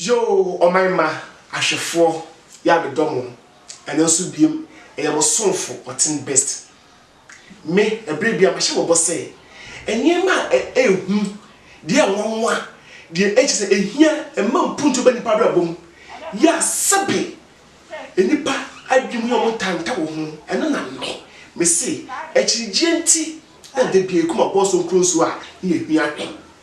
Yoo ɔman mma ahwɛfoɔ ya me dɔ mo ɛno nso biem ɛyɛ mo somfo ɔten best me ɛberɛ bia mahyɛ mo bɔ sɛ ɛneɛma a ɛhu deɛ ɛnwanwa deɛ ɛkyɛ sɛ ɛhia ɛma mpuntuo ba nipa abrabɔ mu ya sɛbe nipa adwene mu yɛ ɔmo ntanta wɔ ho ɛno na me mese akyirigyeɛ nti na dabia ɛkum abɔɔso nkuro nsuo a ne yɛ hia he.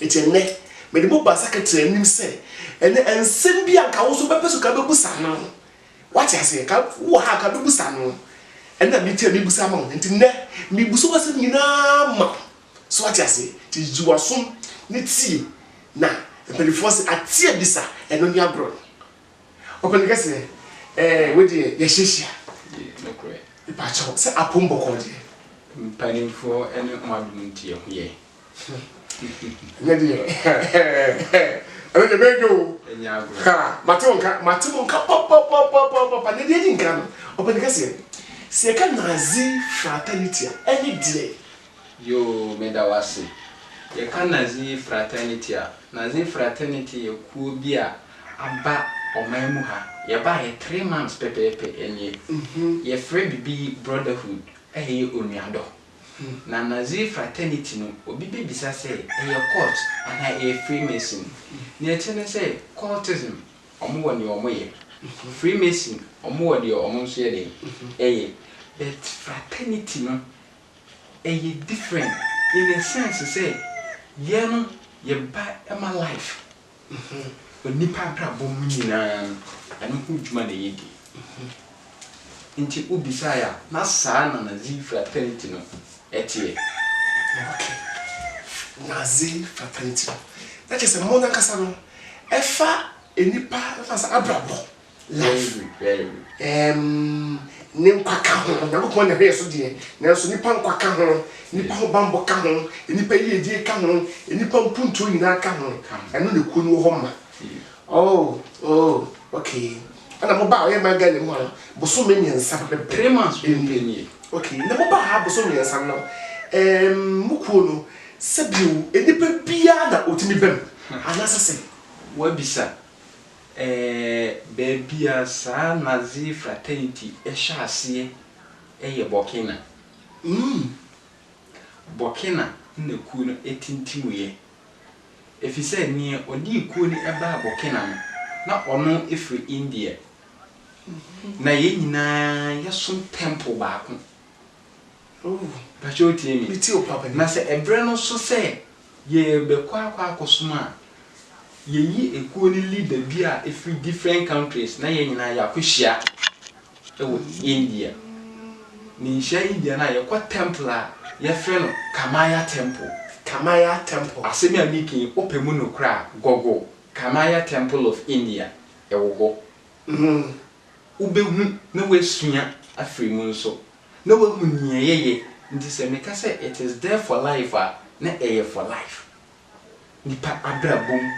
Enti ɛnnɛ, mede mo baasa ka tiri anim sɛ, ɛnnɛ, nsɛm bi a anka wo nso wobɛpɛ sɛ ka wobɛbusa ama wo. Woate aseɛ? Ka wowɔ ha a, ka wobɛbusa ama wo. Ɛnna me nti a mebusa ama wo. Enti nnɛ, mebusa w'asɛm nyina ara ma wo. So woate aseɛ? Enti gye w'aso ne tie. Na mpanimfoɔ se, Ate abisa, ɛno ne agorɔ no. Ɔpanin kɛseɛ, ɛɛ, wei deɛ, yɛahyiahyia. Yei, nokorɛ. Mepa kyɛw, sɛ apom bɔkɔɔ deɛ. Mpanimfoɔ ne mo adom nti ɛho yɛ. ɛnyɛ deɛ ɛno deɛ bɛdwo ha mate wo nka mate wo nka papapapapapa na deɛ di nka no ɔpɛne kɛseɛ sɛ yɛka nazi fraternity a ɛne deɛ yoo meda wo ase yɛka nazi fraternity a nazi fraternity yɛ kuo bi a aba ɔman mu ha yɛba yɛ three months pɛpɛɛpɛ ɛneɛ mhm. yɛfrɛ bibi brotherhood ɛyɛ onuadɔ Na Nazi Fraternity no, obi bɛbisa sɛ, ɛyɛ cult anaa ɛyɛ Freemason? Deɛ ɛkyerɛ ne sɛ, cultism, wɔn wɔ deɛ wɔyɛ. Freemason, wɔn wɔ deɛ wɔn nso yɛ dɛn? Ɛyɛ. But Fraternity no, ɛyɛ different in a sense sɛ, yɛn no, yɛba ma life. ho. Onipa abrabɔ mu nyinaa no, ɛno ho dwuma na ɛyɛ den. Nti wobisaeɛ a, na saa na Nazi fraternity no teɛ. Ok. Nazi fraternity no. Na kyerɛ sɛ mo no ankasa no, ɛfa nnipa, ɛfa sɛ abrabɔ. Life. Ɛɛm, ne nkwa ka ho. Onyankopɔn na ɛhwɛ yɛn so deɛ, nanso nnipa nkwa ka ho, nnipa ho bammɔ ka ho, nnipa yiedie ka ho, nnipa mpuntuo nyinaa ka ho. Ɛno na kuo no wɔ hɔ ma. Oh, oh, okay. Ɛna mobaa ɔyɛ man Ghana mu a, bosome mmiɛnsa bɛbɛ. Three months bɛn bɛn nie. Okay, na mobaa ha bosome mmiɛnsa no, ɛɛm, mo kuo no, sɛbio, nnipa biara na ɔtumi bam, anaasɛ sɛn? Woabisa. Ɛɛ, baabi a saa Nazi fraternity hyɛ aseɛ yɛ Burkina. Umm. Burkina na kuo no tintimuiɛ, ɛfiri sɛ neɛ ɔde kuo no baa Burkina no, na ɔno firi India. Na yɛn nyinaa yɛsom tɛmpol baako. Ooh. Pakyɛ wotie me? Metie wo papa. Na sɛ ɛberɛ no so sɛ Yɛbɛkɔ akɔ akɔsom a, yɛyi ekuo no leader bi a ɛfiri different countries na yɛn nyinaa yɛakɔhyia wɔ India. Ne nhyia India no a, yɛkɔ temple a yɛfrɛ no Kamaya Temple. Kamaya Temple. Asɛm yi a meka yi, wopɛ mu nokorɛ a, google Kamaya Temple of India, ɛwɔ hɔ. Wobɛhu na woasua afiri mu nso. na wahu nea yɛyɛ, nti sɛ meka sɛ it is there for life a, na ɛyɛ for life. Nnipa abrabɔ mu,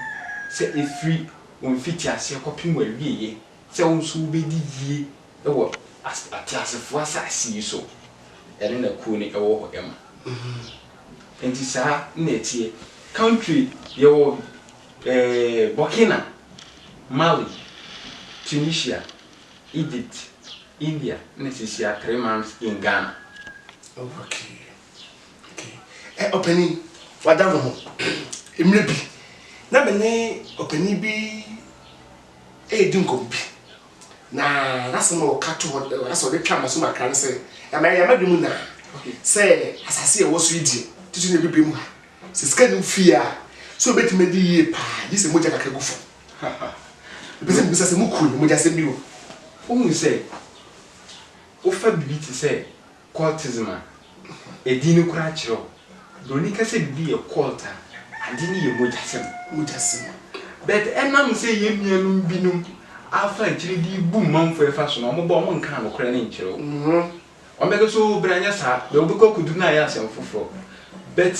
sɛ ɛfiri wo mfitiaseɛ kɔpem w'awieɛ, sɛ wo nso wobɛdi yie wɔ ateasefoɔ asase yi so, ɛno na kuo no wɔ hɔ ma. Nti saa na ɛteɛ. Country, yɛwɔ ɛɛ Burkina, Mali, Tunisia. Egypt, India na sisia three months in Ghana. Oh okay okay eh ɔpanin wada me ho mmerɛ bi na me ne ɔpanin bi redi nkɔmmɔ bi na n'asɛm a ɔka to hɔ asɛ ɔde twa m'asom akra ne sɛ ɛma ɛyɛ m'adwene mu naa sɛ asase a ɛwɔ so yi deɛ titiri na ɛbɛbɛ mu ha sɛ sika nim fie a sɛ ɔbɛtumi adi yie paa gye sɛ mogya kakra gu fam. Mepɛ sɛ mibisa sɛ mukuru ne mogyasɛm bi o. Wohu sɛ wofa biribi te sɛ cultism a, edin no koraa kyerɛ wo. Buroni ka sɛ biribi yɛ cult a, ade no yɛ mogyasɛm. Mogyasɛm. But ɛnam sɛ yɛn nuanom binom afa akyiri de rebu manfo refa so no, wɔn ba wɔnkaa nokorɛ no nkyerɛ wo. Ɔmɛka so oh bra nyɛ saa bɛ wobɛkɔ akodu no ayɛ asɛm foforɔ but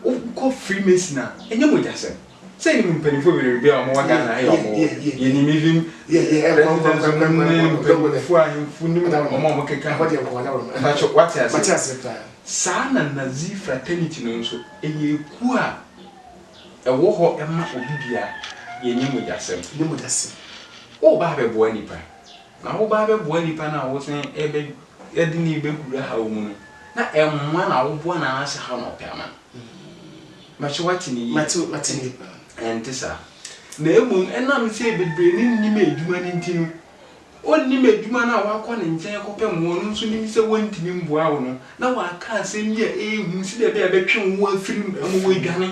wokɔ freemason a ɛnyɛ mogyasɛm sɛ yɛnim mpanimfoɔ bebree bi a wɔn wɔ Ghana ha yɛ wɔn wɔ yɛnim even presidents nom ne mpanimfoɔ ahemfo nim wɔn a wɔn keka ho mpakyɛ wate ase saa na Nazi fraternity no nso ɛyɛ ekuo a ɛwɔ hɔ ɛma obi biara yɛnyɛ mogyasɛm woba abɛboa nipa Na wo ba bɛboa nnipa no a wosan bɛ de no rebɛhura ha wo mu no, na mmoa na woboa no anaasɛ haw na wopɛ ama no? Mɛkyɛ woate no yie. Ɛnte saa. Na mmom ɛnam sɛ bebree no nnim adwuma no nti no, ɔnnim adwuma no a woakɔ ne nkyɛn rekɔpɛ mmoa no nso nim sɛ wɔntumi mmoa wo no, na wɔakã asɛm bi a eye ho si dɛ bi a ebɛtwe hɔn efir mu ama woeedwane.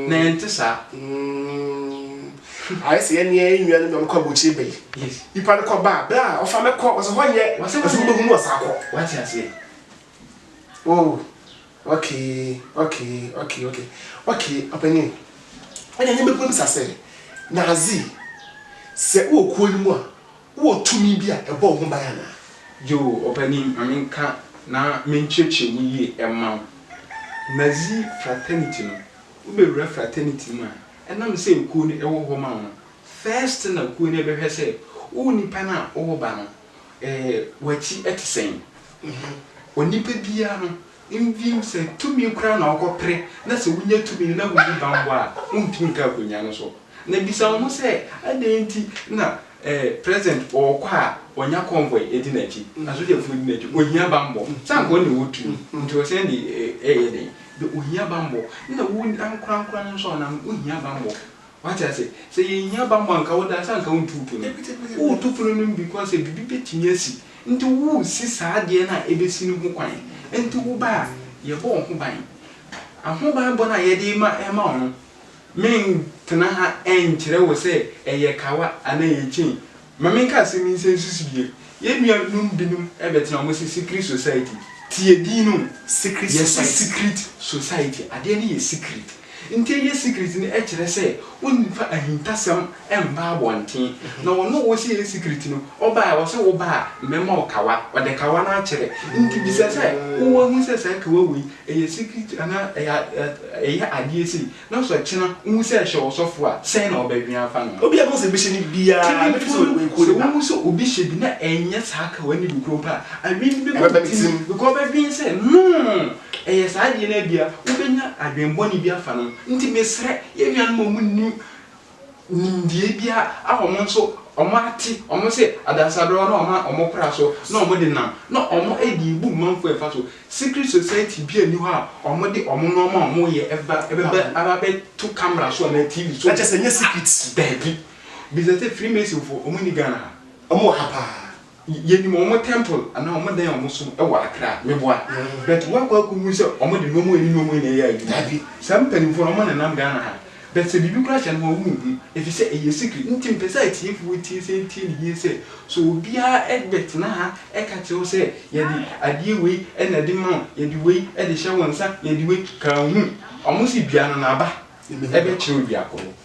Na ɛnntse saa. Ayɛ sɛ yɛne yɛn nua no na ɔbɛkɔ abɔkyire bɛ yi. Yes. Nipa no kɔ ba a, bɛ a ɔfa no kɔ, ɔsɛ hɔ nyɛ, Wɔsɛ ɔsɛ wɔn- wobɛhu no ɔsa kɔ. Wate aseɛ? Oh, okay, okay, okay, okay, okay, ɔpanin. Ɛna ne mɛbisa sɛ, Nazi, sɛ wowɔ kuo no mu a, Wowɔ tumi bi a ɛbɔ wo ho ban anaa? Yoo, ɔpanin, ma menka na menkyerɛkyerɛ mu yie mma wo. Nazi fraternity no, wobɛwura fraternity mu a, ɛnam sɛ ekuo no ɛwɔ hɔ ma wo no, first thing a kuo no ɛbɛhwɛ sɛ wo nipa no a wowɔ ba no, eh, w'akyi ɛte sɛn? Onipa biara no, Mfim sɛ tumi koraa na wokɔpere na sɛ wunya tumi no na wunni bammɔ a, wuntumi nka akonnwa no so. Na bisa wo ho sɛ, adɛn nti na eh, president ɔɔkɔ a ɔnya convoy edi n'akyi, asogyafo edi n'akyi? Ohia bammɔ. Sɛ anka ɔno na ɔwɔ tumi nti ɔsan de eh, ɛɛyɛ dɛn? Ohia bammɔ. Nna wo ankorankoro no nso a ɔnam no, ohia bammɔ. Wate ase? Sɛ yɛhia bammɔ a, anka wode ansa a anka wontu wo funu. Woretu funu no bi kwan sɛ biribi bɛtumi asi. Enti woresi saa adeɛ no a ɛbɛsi no ho kwan. Enti wo ba a, yɛbɔ wo ho ban. Ahobanbɔ no a yɛde rema rema wo no, mentena ha nkyerɛ wo sɛ ɛyɛ kawa anaa ɛyɛ chain. Ma menka asɛm yi nsɛ nsusu yie, yɛn nua nom binom bɛtena wɔn se secret society, tie din no o, yɛse secret society, adeɛ no yɛ secret, nti ɛyɛ secret no ɛkyerɛ sɛ wonfa ahintasɛm mba abɔnten, na wɔn a wɔse ɛyɛ secret no ɔba a wɔse wo ba a mɛma wo kawa, ɔde kawa no akyerɛ, nti bisa sɛ wowɔ ahu sɛ saa kawa wei ɛyɛ secret anaa ɛyɛ adeɛ sei, Na sɛ ɔkyena wohu sɛ ɛhyɛ ɔsɔfo a, sɛn na wɔbɛdwen afa no? Obi a ɛbɛhu sɛ ebi hyɛ no biara bɛdwen sɛ Kannifo no, oyi kuro sɛ ne ba. wohu sɛ obi hyɛ bi na ɛnyɛ saa ka wɔn anibu koro mpo a, adwene bi bɛba Ɛbɛba wɔn ne tirim, tirim. because wɔbɛdwen sɛ, Noo! Ɛyɛ saa adeɛ no a, ebia wobɛnya adwene bɔne bi afa no ho. Enti mesrɛ yɛn nuanom a wɔnnim nimdeɛ biara a wɔn nso wɔate, wɔn sɛ adansadɔɔ na wɔn a wɔkora so na wɔde nam, na wɔde rebu manfoɔ mfa so. Secret society biara nni hɔ a wɔde wɔn nnoɔma a wɔyɛ ba bɛba aba abɛto camera so anaa TV so. Na kyerɛ sɛ ɛnyɛ secret. Daabi. Bisa sɛ Freemasonfoɔ, wɔnni Ghana ha? Wɔwɔ ha paa. Yɛnim wɔn temple anaa wɔn dan a wɔn som wɔ Accra, meboa. But woakɔ akɔhu sɛ wɔn de wɔn ani ne wɔn ani na ɛyɛ adwuma. Dabi, saa mpaninfoɔ no wɔn nenam Ghana ha. But sɛ biribi koraa hyɛ no wɔn nhu. Ɛfisɛ ɛyɛ secret. Nti mepɛ sɛ atiefoɔ tie sɛ ntie no yie sɛ, sɛ obiara bɛtena ha ka kyerɛ wo sɛ yɛde adeɛ wei na ɛde ma wo, yɛde wei de hyɛ wo nsa, yɛde wei, ka nhu. Wɔn se dua no n'aba bɛkyerɛ odua korɔ.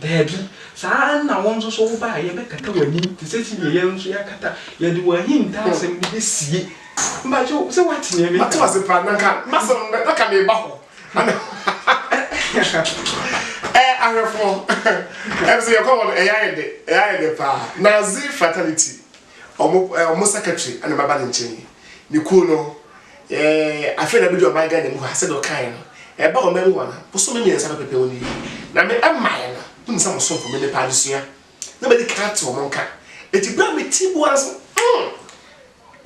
Dabi, saa ara na wo nso so woba a, yɛbɛkata w'anim te sɛ sɛdeɛ yɛn nso yɛakata, yɛde wo ahintasɛm no bɛsie. Mpakyɛ sɛ woate deɛ mereka no. Mate ase paa, na nka m'asɛm no, na nka mereba hɔ. Ɛɛ ahwɛfoɔ, ɛm sɛ yɛkɔ hɔ no, ɛyɛ ayɛ dɛ, ɛyɛ ayɛ dɛ paa. Nazi Fraternity, wɔn, wɔn secretary na maba ne nkyɛn yi. Ne kuo no, Eeii afei na medu ɔman Ghana mu hɔ a sɛdeɛ wokaeɛ no, ɛba ɔman mu hɔ no, bosome mmiɛnsa pɛpɛpɛ wo nie. Na me mmaeɛ no, wonim sɛ mosomfo, menipa adesua, na madi kan ate wɔn nka. Enti berɛ a mete bua nso, mm,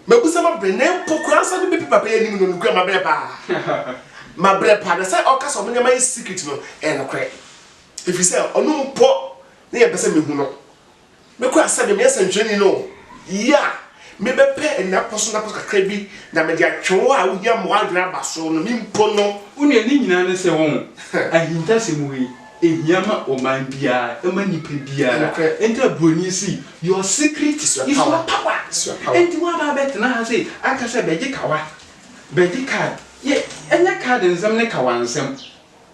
mabusɛm abrɛ, na mpo koraa nso na mebɛpi papa yi anim no, nokorɛ mabrɛ paa. Mabrɛ paa, na sɛ ɔka sɛ ɔmo nneɛma yɛ secret no, ɛyɛ nokorɛ. Ɛfiri sɛ, ɔno mpo na yɛmpɛ sɛ mehu no. Me koraa sɛ me meyɛ sɛnkyerɛni no yi a me bɛ pɛ nnapɔso nnapɔso kakra bi na me de atwe wo a wo hia mmoa adwene aba so no me mpo no. Wo nua ne nyinaa ne sɛ wɔn ahintasɛm wei ɛhia ma ɔman biara ɛma nipa biara ɛnta broni si your secret is your power ɛnti wo aba abɛ tena ha sɛ aka sɛ bɛgye kawa bɛgye card yɛ ɛnyɛ card nsɛm ne kawa nsɛm.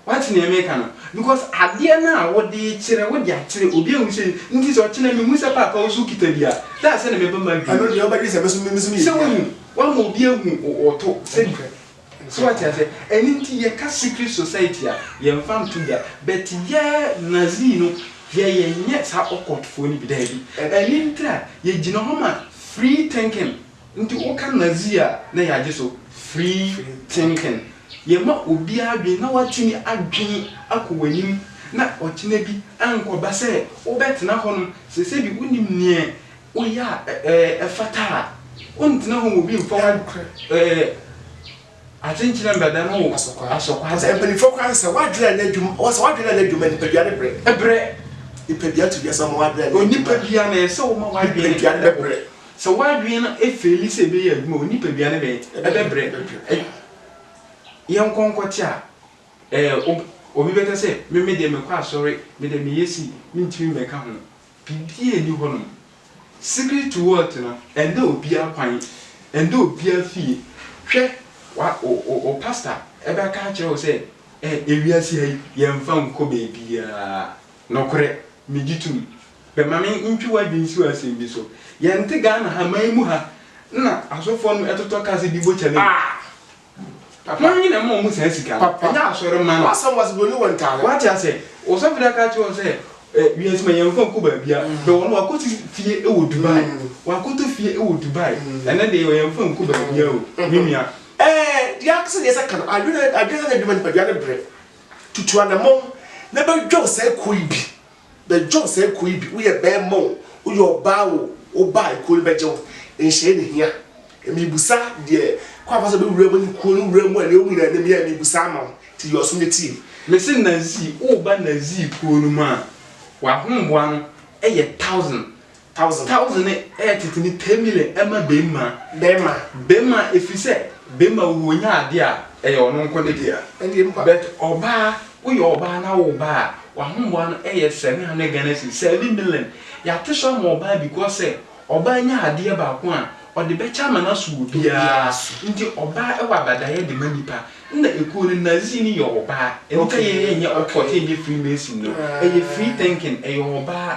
Wate nea meka no? Because adeɛ no a wode rekyerɛ, wode akyerɛ obi ahu sɛ nti sɛ ɔkyena mehu sɛ paapa wo nso wokita bi a, that's sɛdeɛ mɛba m'adwene mu. Ɛno deɛ wobɛdwene sɛ me nso meyɛ bi a. Sɛ woahu, woama obi ahu wo to sɛ bi. So wate aseɛ? Ɛno nti yɛka secret society a, yɛmfa nto dwa. But yɛ Nazi no deɛ yɛnyɛ saa occult foɔ no bi, daabi. Ɛno nti a yɛgyina hɔ ma free thinking. Nti woka Nazi a na yɛagye so free thinking. Yɛma obiara adwene na watumi adwene akɔ w'anim na ɔkyena bi ankɔba sɛ wobɛtena hɔnom. Sɛ sɛbi wonim neɛ woyɛ a ɛfata a, wontena hɔ ma obi mfa wo atenkyena mbɛda no asɔkwaa da. Mpanyinfoɔ koraa sɛ sɛ w'adwene anyɛ adwuma, wɔsɛ w'adwene anyɛ adwuma nipadua no brɛ. Ɛbrɛ. Nipadua to dua sɛ ɔma w'adwene anyɛ adwuma a, nipadua no ɛsɛ woma w'adwene ɛbɔ. Sɛ w'adwene no feeli sɛ ɛbɛyɛ adwuma a, wo nipadua no bɛyɛ? Ɛbɛbrɛ. Yɛnkɔ nkɔte a, obi bɛka sɛ, Me me deɛ mekɔ asɔre, me deɛ meyɛ sei, mentumi mmɛka ho. Biribiara nni hɔnom. Secret to wealth no, ɛnnɛ obiara kwan, ɛnnɛ obiara fie. Hwɛ, wo pasta bɛka akyerɛ wo sɛ, Ewiase ha yi, yɛmfa nkɔ baabiara. Nokorɛ, megye tom. Bɛ ma me ntwe w'adwene si asɛm bi so. Yɛnte Ghana ha man mu ha na asɔfoɔ no ɛtotɔ car sɛ bi bɔ kyale mu. Ah! Papa. Mo nwene ma ɔmo saa sika no. Papa. Ɛnyɛ asɔre ma no. W'asɛm wɔ ase bɛ oni wɔ ntaade. W'ate aseɛ? Ɔsɔfo da ka kyerɛ wɔn sɛ eh, wiase ma yɛn fa nkɔ baabia. Mm. Bɛ wɔn w'akɔ si fie ɛwɔ Dubai. Mm. W'akɔ tɔ fie ɛwɔ Dubai. Mm. Ɛnɛ deɛ yɛn fa nkɔ baabia o, mm. me nua. Eh, deɛ akasa deɛ sɛ ka no, adwene, adwene sɛ adwuma nipadua ne brɛ. Tutu anamɔn na bɛ dwɛw saa kuo yi bi. Bɛ John sɛɛ kuo yi bi wo yɛ bɛɛma o wo yɛ ɔbaa o wo ba ekuo no bɛ gye wo nhyɛɛ ne hia mii busa deɛ kwan afa so bɛ wura mu ne kuo no wura mu a nea wo nyina nim yɛ mii busa ama wo ti yɛ ɔso ne tie. Me se Nazii wo ba Nazii kuo no mu a w'ahomboa no yɛ thousand Thousand. Thousand ne ɛyɛ tete ne ten million ɛma bɛmma. Bɛmma. Bɛmma ɛfiri sɛ bɛmma wo ɔnya adeɛ a ɛyɛ ɔno nko ne dea. Ɛndeɛ mpa. But ɔbaa woyɛ ɔbaa na wo ba a w'ahoboa no ɛyɛ seven hundred Ghana cedis seven million yɛate so ama ɔbaa because sɛ ɔbaa nya adeɛ baako a ɔde bɛkyɛ ama no aso wɔ biara so nti ɔbaa ɛwɔ abadaeɛ de ma nipa nna ɛkuo no Nazi no yɛ ɔbaa ɛnti yɛn yɛnyɛ ocult yɛnyɛ freemason no ɛyɛ free thinking ɛyɛ ɔbaa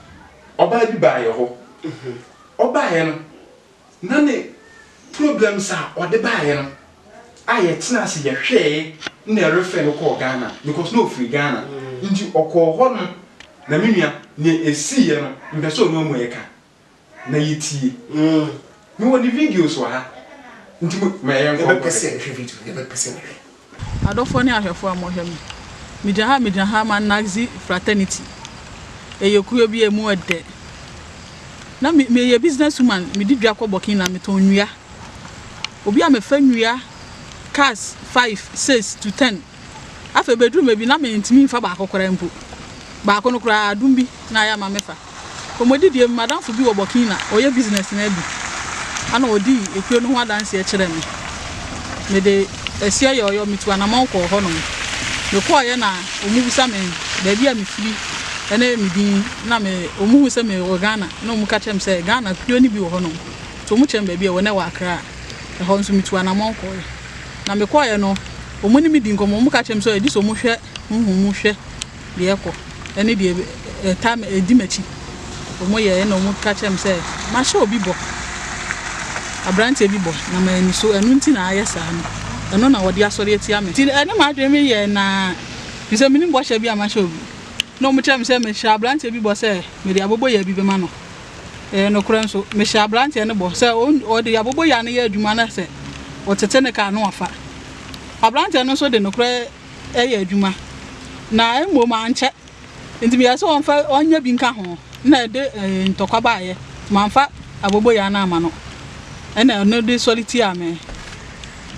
ɔbaa bi baa yɛ hɔ, ɔbaeɛ no na ne problems a ɔde baeɛ no a yɛtenaa ase yɛhwɛɛe na ɛrefɛ no kɔɔ Ghana because na ɔfiri Ghana nti ɔkɔɔ hɔ no na me nua nea ɛsiiɛ no mpɛ sɛ ɔne ɔmu ɛka na yɛtie Mewɔ ne videos wɔ ha nti mo ma yɛnkɔ nkɔhwɛ. Yɛbɛpɛ sɛ yɛhwɛ video no, yɛbɛpɛ sɛ yɛhwɛ. Adɔfoɔ ne ahwɛfoɔ a mohwɛ me, megya ha megya ha ma Nazi fraternity, ɛyɛ kuo bi a ɛmu ɛdɛ. Na me meyɛ business woman, medi dwa kɔ Burkina, metɔn nnua. Obi a mefa nnua cars five, six to ten. Afei bɛduruu baabi na mentumi mfa baako koraa mpo. Baako no koraa, adom bi na ayɛ ama mefa. Kɔmmɔdidie mu, m'adamfo bi wɔ Burkina, ɔyɛ business no adi, ɛna ɔdii ekuo no ho adanseɛ kyerɛɛ me. Mede ɛseɛ yɔɔyɔ, metu anamɔn kɔɔ hɔnom. Mekɔeɛ na wɔbisa me baabi a mefiri ne me din, na me, wɔhuu sɛ mewɔ Ghana na wɔka kyerɛɛ me sɛ Ghana kuo no bi wɔ hɔnom, nti wɔkyerɛɛ me baabi a ɛwɔ, na ɛwɔ Accra. Ɛhɔ nso metu anamɔn kɔeɛ. Na mekɔeɛ no, wɔne me dii nkɔmmɔ, wɔka kyerɛɛ me sɛ gye sɛ wɔhwɛ honhom mu hwɛ deɛ ɛkɔ ne deɛ ɛta ɛdi m'akyi. Wɔyɛɛ ɛna wɔka kyerɛɛ me sɛ mahyɛ obi bɔ, aberanteɛ bi bɔ na manni so, ɛno nti na ayɛ saa no, ɛno na wɔde asɔre atia me. Nti ɛne m'adwene me yɛɛ naa, firi sɛ mennim bɔhyɛ bi a mahyɛ obi. Na wɔkyerɛɛ me sɛ mehyɛɛ aberanteɛ bi bɔ sɛ mede abɔbɔyɛ bi bɛma no. Ɛyɛ nokorɛ nso, mehyɛ aberanteɛ no bɔ sɛ ɔde aboboyaa no yɛ adwuma na sɛ ɔtete ne kaa no ɔfa. Aberanteɛ no nso de nokorɛ yɛ adwuma, na mmom ankyɛ nti meyɛɛ sɛ ɔmfa ɔnyɛ bi nka ho na ɛde ntɔkwa baeɛ. Mamfa aboboyaa no amma no, ɛna ɛno de sɔre tiaa me.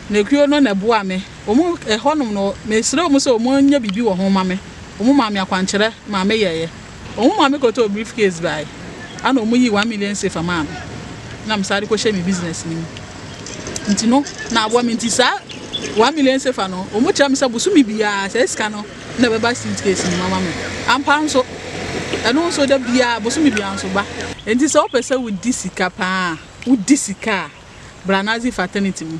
Na ekuo no na ɛboaa me. Wɔn, ɛhɔnom no, mesrɛɛ wɔn sɛ wɔnyɛ biribi wɔ ho mma me. Wɔmaa me akwankyerɛ ma meyɛeɛ. Wɔn maame kɔtɔɔ briefcase bae, ɛnna wɔyii one million sefa maa me, na mesan de kɔhyɛɛ me business no mu. Nti no, na aboa me nti saa one million sefa no, wɔkyerɛ me sɛ bosome biara saa sika no na ɛbɛba suitcase no mu ama me. Ampa ara nso, ɛno nso da biara, bosome biara nso ba. Enti sɛ wopɛ sɛ wudi sika paa a, wudi sika a, bra Nazi fraternity mu.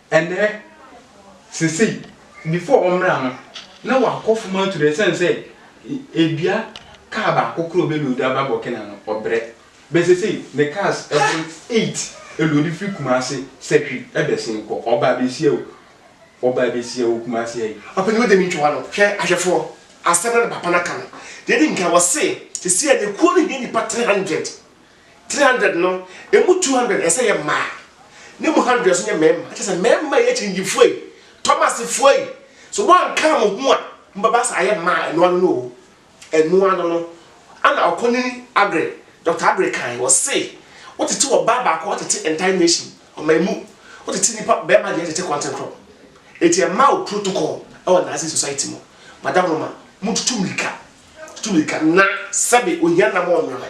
Ɛnnɛ, seesei, before ɔmmra no, na wakɔ fam aturo ɛsiane sɛ ebia car baako koraa a ɔbɛloadi aba Burkina no, ɔbrɛ. But seesei, ne cars boro eight loadi firi Kumasi sɛ hwi bɛsen kɔ. Ɔba abɛsia o, ɔba abɛsia wɔ Kumasi ha yi. Ɔpanyin wode me ntwoa no, hwɛ ahwɛfoɔ, asɛm no na papa no aka no. Deɛ ɛdi nkan, ɔse, seesei a, na kuo no hia nnipa three hundred. three hundred no emu two hundred ɛsɛ yɛ mmaa ne mu hundred nso nyɛ mmarima kyɛ sɛ mmarima yɛ akyinnyegyefo yi tɔmasefo yi so wɔn anka mo ho a mo bɛba sɛ ayɛ mmaa ɛno ano no o ɛno ano no ana ɔkɔnini agre dɔkta agre kan wɔ se wotete wɔ baa baako ɔtete entire nation ɔma emu wotete nipa bɛrima deɛ tete kɔnten korɔ eti ɛma o protocol ɛwɔ nazi society mo madam roma mo tutu mirika tutu mirika na sɛbe ohia nam ɔnyame.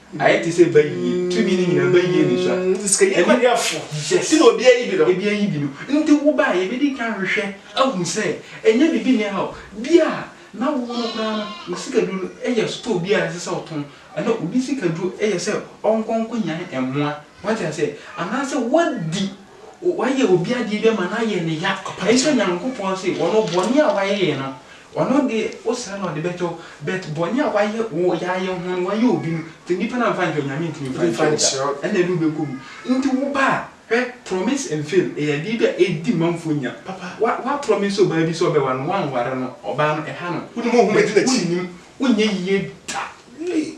Ayɛ te sɛ bayie. Tumi no nyinaa, bayie ne sua. Nti sika yɛ kwadwafo. Yes. Ti na obi ayi bi no. Ebi ayi bi no. Nti wo ba a, yɛbɛdi kan ahwehwɛ ahu sɛ ɛnyɛ biribi nni ha o. Bi a na wo no koraa no, wo sikaduro no yɛ store bi a ɛsɛ sɛ ɔtɔn. Ɛnna obi sikaduro yɛ sɛ ɔnkɔ nkɔnya mmoa. Wate aseɛ? Anaasɛ woadi. Wayɛ obi adeɛ bi ama no ayɛ no ya, nso Nyankopɔn se, ɔno bɔne a wayɛ yɛ no, ɔno deɛ wosrɛ no a ɔde bɛkyɛ wo, but bɔne a wayɛ wo yayɛ ho no wayɛ obi no, sɛ nipa no amfa ankyɛ wo, Nyame ntumi mfa nkyɛ wo da, ɛna ɛde wo bɛkɔ mu. Nti wo ba a, hwɛ, promise and fail ɛyɛ adeɛ bi a ɛdi manfoɔ nya, wa, wa promise ɔbaa bi sɛ ɔbɛware no, wanware no, ɔbaa no ɛha no, wonim, wohu, wonnim, wonyɛ yie da, ei.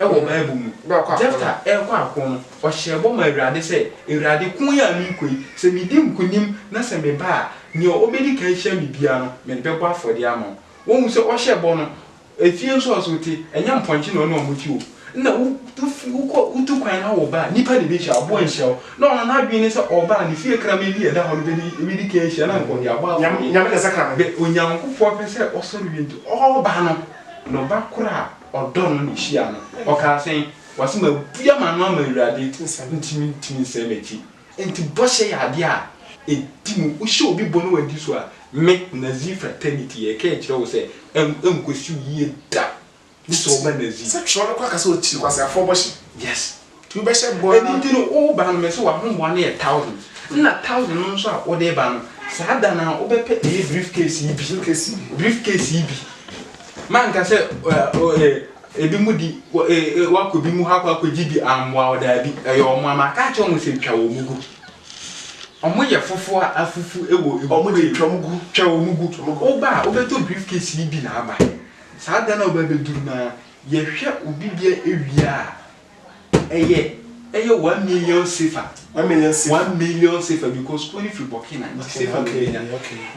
wɔ Bible mu. Jefta rekɔ ako no, ɔhyɛɛ bɔ maa Awurade sɛ, Awurade, ko yi a merekɔ yi, sɛ midi nkonim na sɛ meba a, nea obedi kan ahyia me biara no, mede bɛbɔ afɔdeɛ ama wo. Wohu sɛ ɔhyɛɛ bɔ no, efie nso a ɔse wote, ɛnyɛ mpɔnkye na ɔne wɔn te o. Nna wo, wofi, wokɔ, wotu kwan na woreba a, nnipa na ebehyia wo, aboa renhyia wo. Na ɔno n'adwene ne sɛ ɔreba a, ne fie kraman bi a ɛda hɔ no bedi, ebedi kan ahyia na anka ɔde abɔ afɔdeɛ. Nyame na ɛsɛ kraman. Bɛ, Onyankopɔn pɛ sɛ ɔsɔre wie nti, ɔreba no, na ɔba koro a ɔdɔ no na ohyiaa no. Ɔkaa sɛ, Wɔse mabue m'ano ama Awurade, nti mentumi nsan m'akyi. Enti bɔhyɛ yɛ adeɛ a ɛdi mu. Wohyɛ obi bɔ na wadi so a, me, Nazir Fraternity, yɛreka akyerɛ wo sɛ ɛnkɔsi wo yie da, gye sɛ woba Nazir. Sɛ twerɛ no koraa ka sɛ ɔkyiri kwaseafoɔ bɔhyɛ. Yes. Nti wobɛhyɛ bɔ ara. Ɛno nti no, woreba no, mese w'ahoboa no yɛ thousand, ɛna thousand no nso a wode reba no, saa da no ara wobɛpɛ ɛyɛ briefcase yi bi, suitcase yi, briefcase yi bi. Manka sɛ ebinom de woakɔ ebi mu hɔ akɔ akɔgye bi ammoa wo, daabi, ɛyɛ wɔn a, maka akyerɛ wɔn sɛ twa wɔn gu. Wɔyɛ fufu a afufu wɔ egu. Wɔn de twa wɔn gu. Twa wɔn gu. Woba a, wobɛtɔ briefcase yi bi na aba. Saa da no a wobɛbɛduru no ara. Yɛhwɛ obi deɛ wie a, ɛyɛ ɛyɛ one million sefa. One million sefa. One million sefa because kuro no firi Burkina nti sefa na obenya.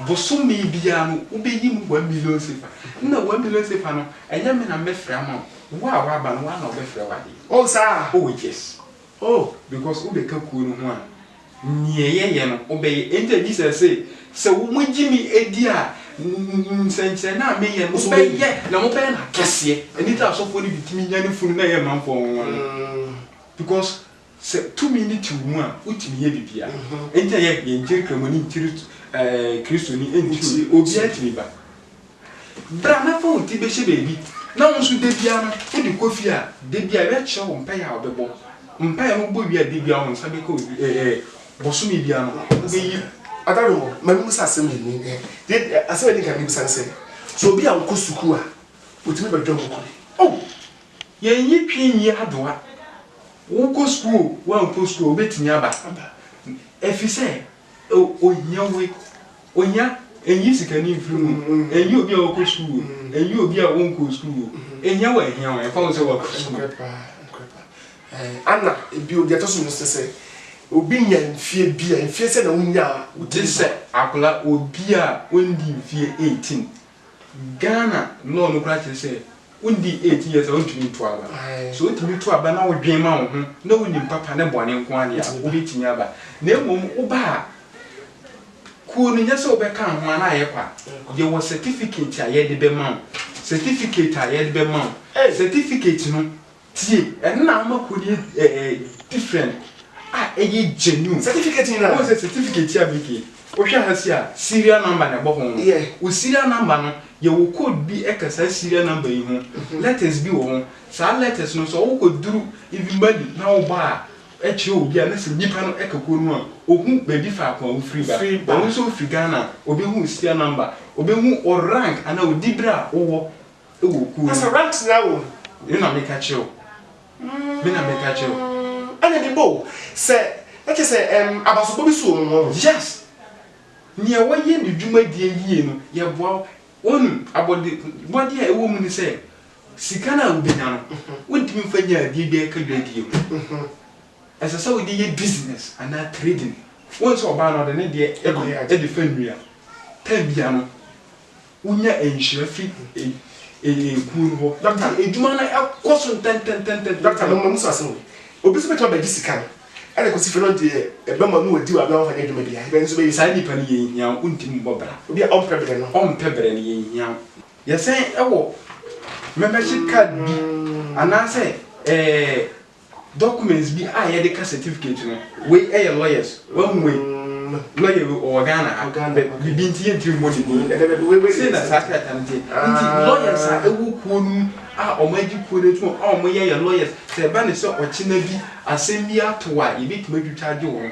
Bosome biara no wobɛyi mu one million sefa. Nna one million sefa no ɛnyɛ me na mɛfrɛ ama wo. Wo a waba no wo ara na wɔbɛfrɛ wo adeɛ. Oh saa? Oh yes. Oh. Because wobɛka kuo no ho a Neɛ yɛyɛ no wobɛyɛ. Ɛnti na Jesus se, Sɛ wo mo gye me di a, nsɛnkyerɛnne a meyɛ no mobɛyɛ na mobɛyɛ no akɛseɛ. Ɛno nti na asɔfoɔ no bi tumi nyane funu na ɛyɛ manfoɔ nwonwa no. Because sɛ tumi no te wo mu a, wotumi yɛ biribiara. Ɛnti na yɛnkyere Kramoni nkyere Kristoni nkyere obi. Obiara tumi ba. Bra na fa wo ti bɛhyɛ baabi na wo nso da biara no wode kɔ fie a, da biara yɛbɛkyerɛ wo mpaeɛ a wobɛbɔ. Mpaeɛ no wobɔ wie a, da biara wo nsa bɛka obi ɛ ɛ bosome biara no wobɛyi. Ada no hɔ, ma memmisa asɛm mmienu yi. Deɛ ɛ asɛm a ɛdi kan mɛbisa ne sɛ, sɛ obi a ɔnkɔ sukuu a, ɔtumi bɛdware wɔ kuro mu? Oh! Yɛnyi twi nyi adoa. Wokɔ sukuu o, woankɔ sukuu o, wobɛtumi aba. Aba. Ɛfiri sɛ, Ohia woi, ohia, ɛnyi sikani mfiri mu, ɛnyi obi a ɔkɔ sukuu o, ɛnyi obi a ɔnkɔ sukuu o, ɛhia wɔ ɛhia wɔ, ɛmfa ho sɛ wakɔ sukuu. Nokorɛ paa, nokorɛ paa. Ɛɛ, ana ebio deɛ ɛtɔ so mmiɛnsa sɛ, obi nya mfeɛ bi a, mfeɛ sɛn na wonyaa wo tirim saa? Gyesɛ akwadaa, obi a ɔndi mfeɛ eighteen, Ghana law no koraa kyerɛ sɛ wodi eighteen years a wontumi nto aba. Sɛ wotumi to aba na wodwen ma wo ho na wonim papa ne bɔne nko ara deɛ a, wobɛtumi aba. Na mmom woba a, kuo no nyɛ sɛ wobɛka ho ara na ayɛ kwa. Yɛwɔ certificate a yɛde bɛma wo. Certificate a yɛde bɛma wo. Certificate no, Tie, ɛno na ama kodi ɛ ɛ ɛ different a ɛyɛ genuine. Certificate nyinaa. Wohu sɛ certificate yi a Micky, wohwɛ ha sei a, serial number na ɛbɔ ho no. Yeah. Wo serial number no, yɛwɔ code bi ɛka saa serial number yi ho. Letters bi wɔ ho. Saa letters no, sɛ wokɔduru even Mali na woba a, ɛkyerɛ obi a, na sɛ nipa no ɛka kuo no mu a, ɔhu baabi faako a wofiri ba. Firi ba. Ɔno nso ɔfiri Ghana a, ɔbɛhu wo serial number. Ɔbɛhu wo rank anaa wo dibere a wowɔ wɔ kuw no mu. Me na meka kyerɛ wo. Me na meka kyerɛ wo. Ɛna mebɔ wo sɛ ɛkyɛ sɛ abasobɔ bi so wɔ wɔn hɔ. Yes! Nea wɔyɛ ne dwumadie yie no, yɛboa wo. Wonim, abɔdebɔdeɛ a ɛwɔ mu ne sɛ, sika no a wobɛnya no, wontumi mfa nyɛ adeɛ biara ɛka dwadie ho. Ɛsɛ sɛ wode yɛ business anaa trading. Wohu sɛ ɔbaa no, ɔde ne deɛ de fa nnua. Time biara no. wonya nhyira fi kuo no hɔ. Dɔkta no edwuma no ɛkɔ so ntɛntɛntɛntɛntɛntɛn. Dɔkta no mmamu so asɛm o. Obi nso bɛtumi abɛgye sika no ɛna kɔsi fɛ na ɔde ɛbɛma no wadi wɔ abena wɔnfa nyɛ adwuma biara. Ɛbɛn nso bɛyɛ. Saa nipa no yɛn hia wo ntumi mbɔ bra. Obi a ɔmpɛ brɛ no. Ɔmpɛ brɛ no yɛn hia wo. Yɛsɛn ɛwɔ membership card bi anaasɛ ɛɛ. Documents bi a yɛde ka certificate no wei yɛ lawyers wahu wei lawyer wei ɔwɔ Ghana ha biribi nti yɛntumi mmɔ ne din sei na saa krataa no teɛ nti lawyers a ɛwɔ kuo no mu a wɔn agye kuo no atum a wɔn yɛ yɛ lawyers sɛ ɛba ne sɛ ɔkyena bi asɛm bi ato a yɛbɛtumi atwitwa agye wɔn.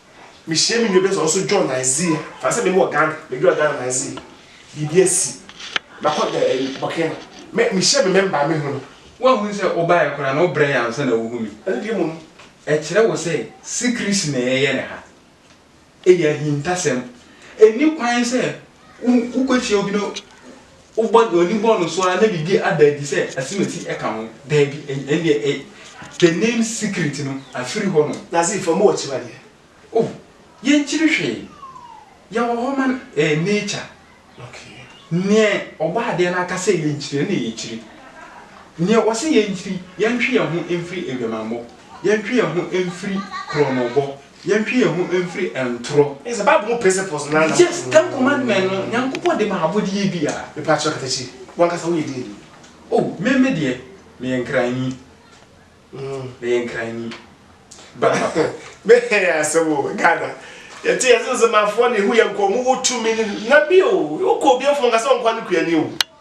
Mehyia me nua bi sɛ ɔnso join Nizer fa sɛ me wɔ Ghana medura Ghana Nizer biribi asi makɔ dɛ ɛɛ Burkina mɛ mehyia me mɛmba me hu no. Woanhunu sɛ wobaeɛ koraa no wobrɛeɛ ansa na wohu me. Ɛno deɛ mmom ɛkyerɛ wo sɛ sikirisi na yɛyɛ no ha. Ɛyɛ ahintasɛm. Ɛnni kwan sɛ wokɔkyia obi na. Wobɔ w'ani bɔ no so ara na biribi ada adi sɛ asimasi ka ho? Daabi, ɛnneɛ ɛ. The name secret no afiri hɔ nom. Nazir, fa mu akyiwadeɛ. Oh, yɛnkyiri hwee. Yɛwɔ hɔ ma no, ɛyɛ nature. Okay. Neɛ Ɔbɔ adeɛ no aka sɛ yɛnkyiri no na yɛkyiri. Neɛ Ɔse yɛnkyiri, yɛntwe yɛn ho mfiri adwamammɔ, yɛntwe yɛn ho mfiri korɔnobɔ, Yɛntwe yɛn ho mfiri ntorɔ. Ɛyɛ sɛ Bible mu principles no ara na. Yes, Ten Commandment no, Nyankopɔn de maa abɔdeɛ biara. Mepa akyɛw kata akyiri. Wo ankasa wo yɛ deɛ ni? Oh, me, me deɛ, me yɛ Nkranni. Me yɛ Nkranni. Ba papa. Me yɛ asɛm o, Ghana. Yɛ te yɛ Zenzemafoɔ na ehu yɛ nkɔ, ɔmo wɔ tumi ne, na bio, wo kɔ obi afuo, ɔnka sɛ ɔnkɔ a ne kuani o.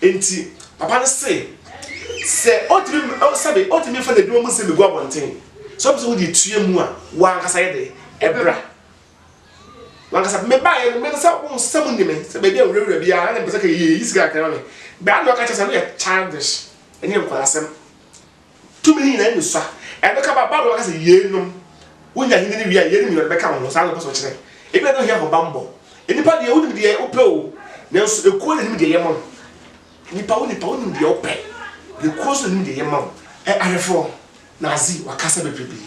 Enti papa no se, Sɛ otumi ma, oh, sɛbe, otumi mfa n'adwuma mu nsɛm begu abɔnten, sɛ ɔpɛ sɛ wode etua mu a, wo ankasa yɛ dɛn? Ɛbra. Wo ankasa, mebaeɛ no, me no sɛ, wohu sɛ monni me, sɛ baabi a nwurawura biara, na na mepɛ sɛ ka, yɛyi sika kakra ma me. Bra na ɔka kyerɛ sɛ, ɛno yɛ childish, ɛnyɛ nkwadaa asɛm. Tumi no nyinaa nni so a, ɛbɛka ba Babilon aka sɛ, Yeinom, wonya ahenni no wie a, yeinom nyinaa bɛka wo ho. Saa na ɔpɛ sɛ ɔkyerɛ. Ebia na ohia ahobammɔ. Nnipa deɛ, wonim deɛ wopɛ o, nanso ekuo na ɛnim deɛ ɛyɛ ma wo. Nnipa, wo nipa, wonim deɛ wopɛ, na ekuo nso na ɛnim deɛ ɛyɛ ma wo. Ɛ Arefoɔ, Nazi, wakasa bebrebee.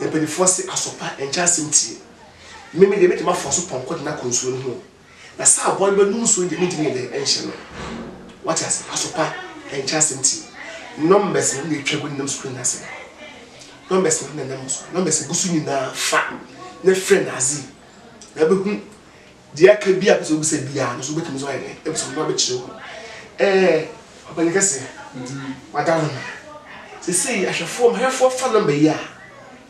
Mpanimfoɔ se, Aso pa, ɛnkyɛ asɛm tie. Me, me deɛ, mɛtumi afa so pɔnkɔ de no akɔ nsuo no ho o. Na sɛ aboa no bɛnom nsuo deɛ, mentumi nyɛ dɛn nhyɛ no. Wate ase? Asopa nkyɛ asɛm ti. Numbers no na ɛtwa gu nenam screen no ase no. Numbers no na ɛnam wo so. Numbers gu so nyinaa fa na frɛ no adze na wobɛhu deɛ aka biara a wopɛ sɛ wobisa biara no nso wobɛtumi nso ayɛ dɛn abisa no na wabɛkyerɛ wo. Ɛɛ ɔpanin kɛse, wada wo ho. Seesei ahwɛfoɔ, m'ahwɛfoɔ fa number yi a.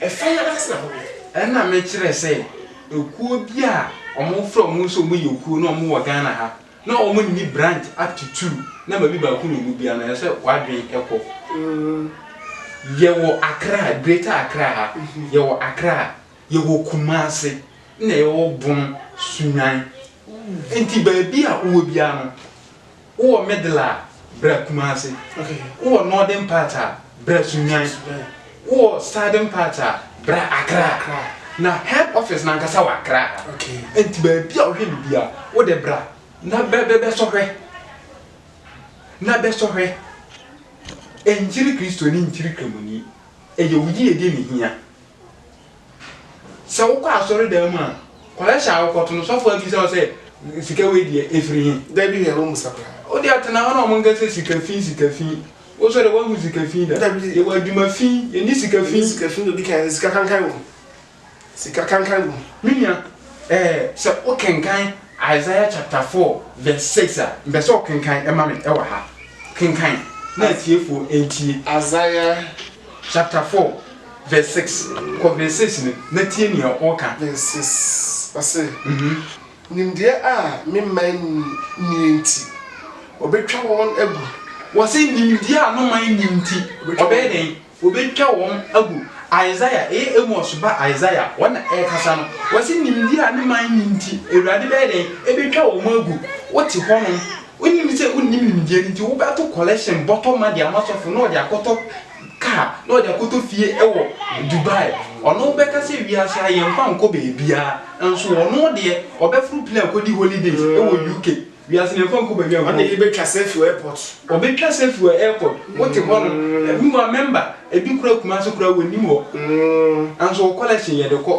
Ɛfa yɛn asetena ho deɛ. Ɛna mekyerɛ sɛ ɛkuo bi a ɔmo frɛ ɔmo sɛ ɔmo yɛ kuo na ɔmo wɔ Ghana ha na ɔmo nni branch up to two na ma bi baako na ɔmu biara no ɛsɛ w'adwen ɛkɔ yɛ wɔ Accra greater Accra ha yɛ wɔ Accra yɛ wɔ Kumasi ɛna yɛ wɔ Bono Sunyani ɛnti baabi a wowɔ biara no. Wowɔ middle a, bra Kumasi. Wowɔ northern part a, bra Sunyani. Wowɔ southern part a, bra Accra. Na head office no ankasa wɔ Accra ha. Nti baabi a wohwɛ no biara, wo de bra na bɛ bɛ bɛsɔ hwɛ. Na bɛsɔ hwɛ. Nkyere Kristoni, nkyere Kramoni. Ɛyɛ wo yiyedi na ehia. Sɛ wokɔ asɔredan mu a, kɔhwɛ hyɛ a wokɔto no, sɔfo abisa wo sɛ, Sika wei deɛ, ɛfiri he? Dabi, hwɛ, wɔmmisa koraa. Wo deɛ, tena hɔ na wɔnka sɛ, Sika fi, sika fi. Wo nso deɛ, woahu sika fi da? Dabi. Yɛwɔ adwuma fi, yɛnni sika fi. Yɛnni sika fi, na ɔdi kan sɛ, Sika kankan wom. Sika kankan wom. Me nua, eh, sɛ wokenkan Isaiah chapter four verse six a, mpɛ sɛ wokenkan ma me wɔ ha. Kenkan na atiefoɔ ntie. Isaiah chapter four. Verse six, kɔ verse six no na tie nea ɔka. Verse six, ɔse, Nimdeɛ a me man nnie nti, wɔbetwa wɔn agu. Wɔse nimdeɛ a no man nni nti, ɔbɛyɛ dɛn? Wɔbetwa wɔn agu. Isaiah, ɛyɛ Amos ba Isaiah, ɔno na ɛrekasa no. Ɔse nimdeɛ a ne man nni nti, Awurade bɛyɛ dɛn? Ɛbetwa wɔn agu. Wote hɔnom, wonim sɛ wonnim nimdeɛ no nti, wobɛto collection bɔtɔ ma de ama sɔfo na ɔde akɔtɔ car na ɔde akɔtɔ fie wɔ Dubai, ɔno bɛka sɛ wiase ha yɛmfa nkɔ baabiara, nso ɔno deɛ ɔbɛforo plane akɔdi holidays wɔ UK, wiase no yɛmfa nkɔ baabiara nkɔ. Ɔne yɛbɛtwa selfie wɔ airport. Ɔbɛtwa selfie wɔ airport, wote hɔ no, meanwhile member, ɛbi koraa Kumasi koraa wɔnnim hɔ, nanso wɔ collection yɛde kɔ.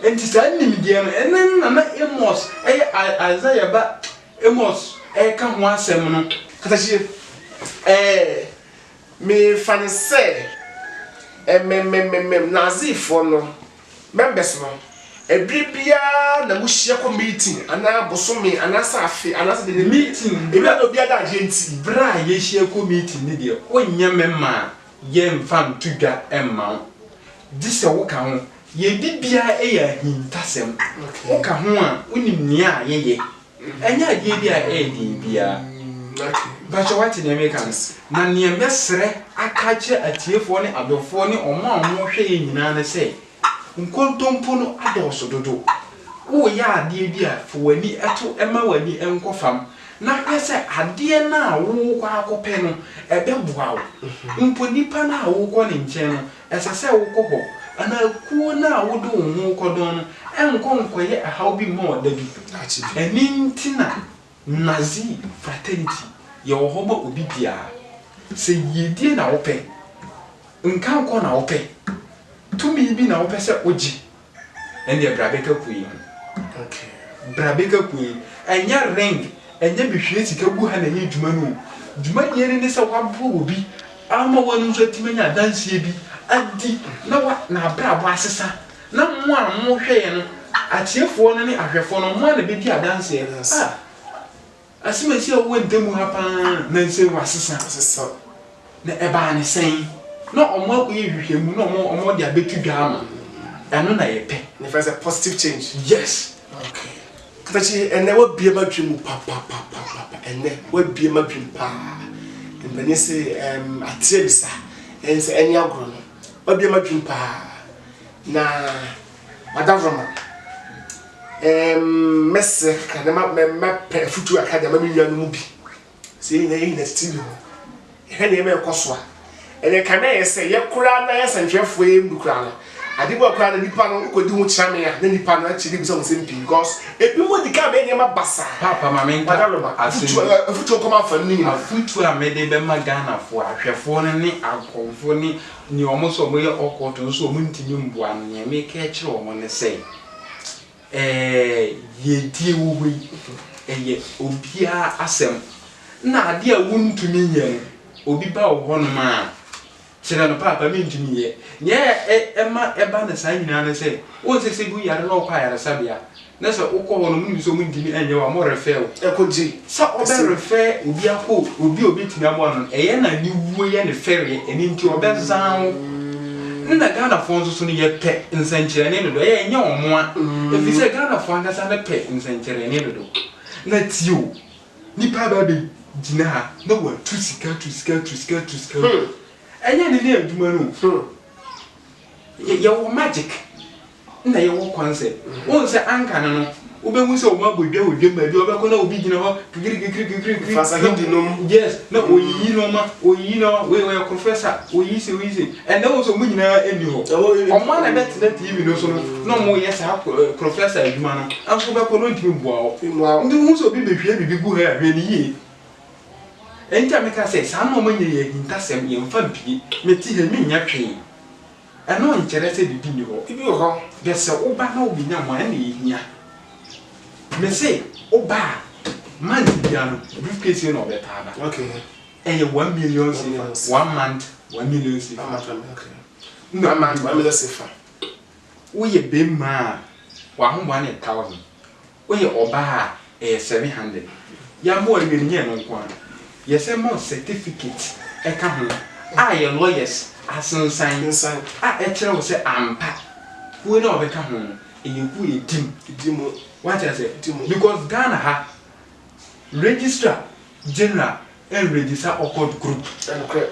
Nti saa nimdeɛ no, ɛno na na Amos yɛ Isaiah ba Amos reka ho asɛm no. Katahyie, Ɛɛ, mefa no sɛ ɛmemmemmem Nazifoɔ no members no, ɛberɛ biara na mohyia kɔ meeting anaa bosome anaasɛ afe anaasɛ deɛ deɛ meeting, ɛwira na obiara da adeɛ nti. Berɛ a yɛhyia kɔ meeting no deɛ, wonyɛ memma a, yɛmfa nto dwa mma wo, gye sɛ woka ho Yɛn bibiaa yɛ ahintasɛm. Woka ho a wonim nea yɛyɛ. Ɛnyɛ adeɛ bi a ɛyɛ den biaa. Mpakyɛ wate deɛ meka no? Na neɛ mɛsrɛ aka akyerɛ atiefoɔ ne adɔfoɔ ne wɔn a wɔn hwɛ yɛn nyinaa ne sɛ, nkontompo no adɔɔso dodo. Woreyɛ adeɛ bi a fa w'ani to mma w'ani nkɔ fam na hwɛ sɛ adeɛ no a worekɔ akɔpɛ no ɛbɛboa wo. Mpo nipa no a worekɔ ne nkyɛn no Ɛsɛ sɛ wokɔ hɔ, anaa kuo no a wode wo ho rekɔdɔn no nkɔ nkɔyɛ ɛhaw bi mma wɔn da bi. Ɛno nti na Nazi fraternity yɛwɔ hɔ ma obi biara. Sɛ yiedie na wopɛ, nkankɔ na wopɛ, tumi bi na wopɛ sɛ wogye Ɛndeɛ bra bɛka pue ho. Okay bra bɛka pue. Ɛnyɛ ring ɛnyɛ mehwie sika gu ha na ɛyɛ dwuma no o. Dwuma deɛ no ne sɛ w'aboa obi ama w'ano nso atumi anya adanseɛ bi adi na wa na abrabɔ asesa na mo a mo hwɛɛ no atiefoɔ no ne ahwɛfoɔ no mo a na bɛdi adanseɛ ah. Asɛm a ɛsi a wɔn ntam ha pa ara na nsɛm wɔasesa asesaw. Na ɛbaa no sɛn? Na wɔakɔyɛ nhwehwɛmu na wɔn wɔde abɛto dwa ama no. Ɛno na yɛpɛ. Na ɛfrɛ sɛ positive change. Yes. Okay. Katakyi, ɛnnɛ woabue m'adwene mu papapapapapa. Ɛnnɛ woabue m'adwene pa ara. Mpanin se ɛɛm ateɛ bisa, ɛnsɛ ɛne agorɔ no. Woabue m'adwene pa ara. Na. Madamfo ma ɛɛm mɛsrɛ kakra na ma mɛ mɛpɛ afutuo kakra de ama me nua no mu bi. Sɛ yɛn nyinaa yɛn nyinaa titiri ne ho. Yɛhwɛ nneɛma ɛkɔ so a. Ɛnna ɛka mɛ yɛ sɛ yɛ koraa na yɛ sɛntwerɛfoɔ yɛ mu bi koraa no. Ade bi wɔ koraa na nipa no wokɔdi ho kyerɛ me a na nipa no akyiri de bisa ho nsɛm pii because ebinom de ka mɛ nneɛma basaa. Paapa ma me nka asɛm bi. Afutuo kɔma afa no ne nyinaa. Afutuo a mɛde bɛma Ghanafoɔ ahwɛfoɔ no ne akɔmfoɔ ne. ne wɔn nso wɔyɛ occult nso wɔn ntumi mboa no nea meka akyerɛ wɔn ne sɛ yiedie wɔ hɔ yi ɛyɛ obiara asɛm na adeɛ a wontumi nyɛ no obi ba wɔ hɔnom a kyerɛ no paapa mentumi yɛ nea ɛma ɛba no saa nyinaa ne sɛ wɔn sɛ sɛ bi yare na ɔkɔ ayaresabea na sɛ wokɔ hɔ no ɔmo nim sɛ ɔmo ntumi ɛnyɛ wo a ɔmo refɛɛ wo. Ɛkɔ nti. Sɛ ɔbɛ refɛɛ obi akɔ obi a obetumi aboa no no ɛyɛ na aniwuo yɛ ne fɛreɛ ɛno nti ɔbɛ zan wo. Ne na Ghanafoɔ nso so no yɛpɛ nsɛnkyerɛnee dodo ɛyɛ ɛnyɛ ɔmo a efisɛ Ghanafoɔ ankasa no pɛ nsɛnkyerɛnee dodo. Na tie o, nipa aba abɛ gyina ha na watu sika atu sika atu sika atu sika agu ɛnyɛ ne ne adwuma no o. Yɛwɔ magic Nna yɛwɔ kwan sɛ, wohu sɛ anka no no, wobehu sɛ wɔabɔ dwa wɔ dwam baabi a wɔbɛkɔ na obi gyina hɔ kikirikikirikirikiri. Fa sahidi nom. Yes, na oyiyi nneɛma, oyiyi nneɛma, wei ɔyɛ professor, oyiyi sei, oyiyi sei. Ɛnnɛ wohu sɛ wɔn nyinaa nni hɔ. Wɔn a na ɛbɛtena TV no so no na wɔreyɛ saa professor adwuma no, nanso wobɛkɔ no ntumi mmoa wo. Nti wohu sɛ obi behwie biribi gu ha yi a, hwɛ no yie. Ɛno nti na meka sɛ saa nneɛma nyinaa yɛ ahintasɛm, yɛmfa mpie. Mete ha yi, mennya hwee. Ɛno nkyerɛ sɛ biribi nni hɔ. Ebi wɔ hɔ deɛ sɛ woba na wobɛnya mu a, ɛnna ɛyɛ hia. Mese woba a, month biara no, briefcase sei na wɔbɛtaa ba. Ɛyɛ one million cfa, one month, one million cfa. Woyɛ bɛmma a, w'ahoboa no yɛ thousand. Woyɛ ɔbaa a, ɛyɛ seven hundred. Yɛabɔ awie no, nyɛ ɛno nko ara, yɛsan ma wo certificate ka ho a yɛn lawyers asensan a ɛkyerɛ wo sɛ ampa kuo no a wobɛka ho no, ɛyɛ kuo a ɛdi mu. Ɛdi mu. Wate aseɛ? Ɛdi mu. Because Ghana ha, registrar general ɛnregister occult group. Ɛnokorɛ.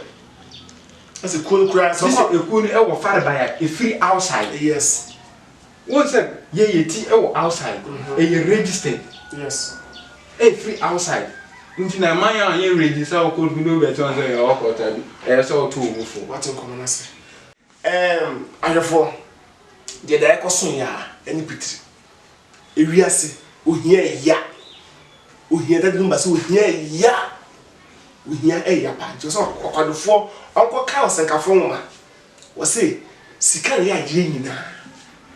Ɛsɛ kuo no koraa, sɛ ɔkɔ. Gye sɛ ɛkuo no ɛwɔ farebae a ɛfiri outside. Yes. Wohu sɛ yɛn yɛ ti wɔ outside, ɛyɛ registered. Yes. Ɛyɛ firi outside. Nti na ɛma yɛn a yɛn register wɔ court mu na obi bɛkyerɛ wɔn sɛ yɛwɔ court a, ɛyɛ sɛ ɔto wo bo fo. Wate nkɔmmɔ no ase. Ɛɛm, ahwɛfoɔ, deɛ da ɛkɔ so yɛ ara ɛne pitiri. Ewiase, ohia ɛya. Ohia, Dade Dumba se ohia ɛya. Ohia ɛya paa. Nti ɛwɔ sɛ ɔkwadofoɔ ɔnkɔkan ɔsɛnkafoɔ nwoma Wɔse sika nyɛ adeɛ nyinaa.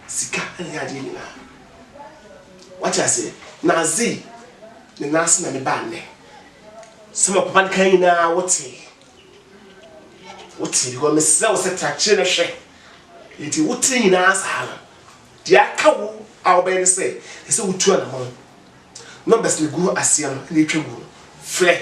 Sika nyɛ adeɛ nyinaa. Wate aseɛ? Na azei ne nan ase na me baa nnɛ. Sɛ ma papa no kan nyinaa wotee. Wotee because me srɛ wo sɛ tra kyere no hwɛ. Enti wotee nyinaa saa no. Deɛ aka wo a wobɛyɛ ne sɛ ɛsɛ wotu anamɔn. Numbers no gu aseɛ no na etwa gu no. Frɛ.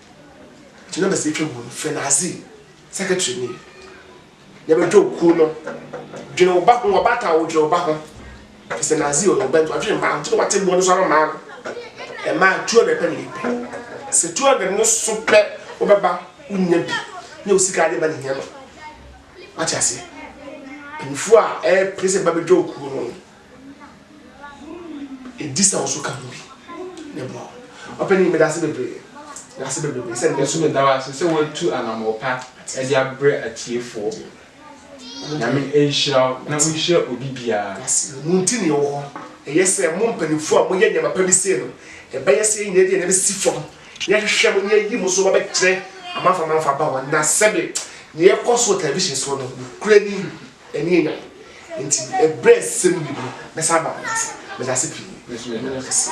Gyina bɛsi etwa mu no frɛ n'adze secretary ni na bɛdwow kuw no dwen wo ba ho ɔbaatan wo dwen wo ba ho efisɛ n'adze yɛ ɔyɛ bɛnto adwen mmaa ɔnkyɛ na wate mmoa no so ama mmaa no mmaa two hundred pɛ na yɛ pɛ sɛ two hundred no so pɛ wo bɛba wo nya bi nyɛ wo sika ade ba ne hia no wate aseɛ mpanyinfoɔ a ɛɛpere sɛ ba bɛdwow kuo no. Edi sɛ wo nso ka ho bi na boa wɔn. Ɔpanyin, meda ase bebree. Meda ase bebrebe sɛ nnɛ nso. Meda wo ase sɛ woatu anammɔn pa de abrɛ atiefoɔ. Nyame nhyira wo na ɔnhyira obi biara. Mo nti na yɛwɔ hɔ. Ɛyɛ sɛ mo mpanimfoɔ a moyɛ nneɛma pa bi sei no, ɛbɛyɛ sɛ yɛn nyinaa de yɛn nan bɛsi fam na yɛahwehwɛ mo na yɛayi mo so abɛkyerɛ amanfoɔ amanfoɔ aba hɔ. Na sɛbe nea ɛkɔ so wɔ television soɔ no, nokorɛ ni. Ɛnni anya. Enti ɛberɛ a ɛsɛ sɛ mudi no, mɛsan aba mo nkyɛn. Meda ase pii. Meda mo nyinaa ase.